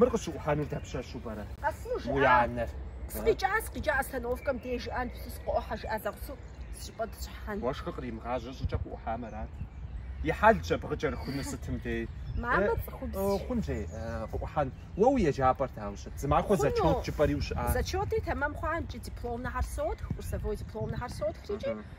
Мыр къыщыӏухьэнур дапщэщу пӏэрэ? Къэсыну жиӏа? Уи анэр. Сыкъикӏа, сыкъикӏа остановкэм деж жыӏэн псы сыкъоӏухьэ жиӏа зэгъусэу сыщыпӏэ тщхьэн. Уэшхыр къримыгъажьэ щӏыкӏэ къыӏухьам арат. И хьэлщ абы къыкӏэрыхуну сытым дей. Мамэ цӏыхубз. Э, хъун жей, э, къыӏухьэн. Уэ уи еджапӏэр дауэ щыт? Зы махуэ Хъуну. зачет жыпӏэри ущыӏа? Зачетри тэмэм хъуа, икӏи дипломнэхэр сотх, курсовой дипломнэхэр сотхрикӏи,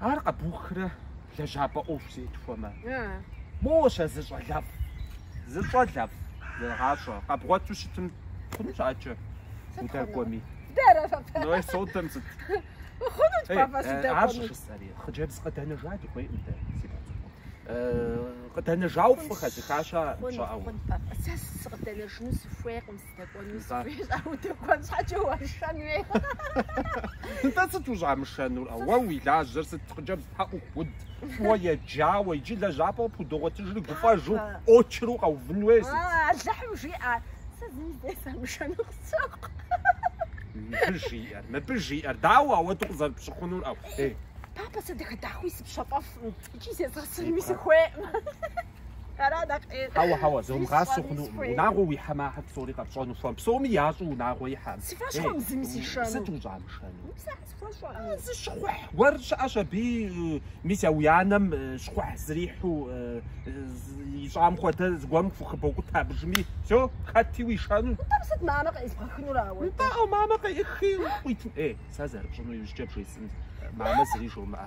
Ар къэбухрэ лэжьапӏэ ӏуэху зетхуэмэ? Моуэ щэ зы щӏалэфӏ. Зы щӏалэфӏ, зэгъащӏэ. Къэбгъуэту щытым хъунущ акӏэ удэкӏуэми. Ной содэм сыт? Хъунут папа сыдэкӏуэми. Аращ жысӏэри, хъыджэбз къыдэнэжа дыхуейкъым дэ, си пхъу цӏыкӏу. Къыдэнэжауэ фӏы хэзыхащэ щыӏэу. Хъун папа, сэ сыкъыдэнэжыну сыхуейкъым. Дэкӏуэну Нтӏэ. сыхуей щӏа? Удэкӏуэн щхьэкӏэ уашэн хуей. Нтӏэ, сыт ущӏамышэнур? Ауэ уи лажьэр сыт хъыджэбз тхьэӏухуд, фӏыуэ еджауэ, иджы лэжьапӏэу къыпхудогъуэтыжри гуфӏэжу, очереду къэувын хуей сыт? А, Алыхьым жиӏэ, сэ зыми дей самышэну къысщохъу. Мыбы жиӏэр, мыбы жиӏэр, дауэ ауэдэу къызэрыпщыхъунур, ӏэу, ей. Папа, сэ дахэ-дахэуи сыпщэфӏэф икӏи зезгъэсынуи сыхуейкъым. Хьэуэ, хьэуэ, зумыгъасэу хъуну, унагъуэ уихьэмэ ахэр псори къэпщӏэну хуэм, псоми ящӏэу унагъуэ ихьэм. Си фӏэщ хъуэм зыми сишэну. Сыт ущӏамышэну? Сэ схуэщӏэну. Зы щхъухь гуэр щыӏэщ абы, мис а уи анэм щхъухь зэрихьэу ищӏам хуэдэ зыгуэрым хухыбокӏутэ абджыми. Все, хэти уишэну. Нтӏэ, сыт мамэ къеӏысхынур ауэ? Нтӏэ, мамэ къеӏыхи къуитын. Ей, сэ зэрыпщӏыну иужькӏэ бжесӏэнщ, мамэ зыри жумыӏэ.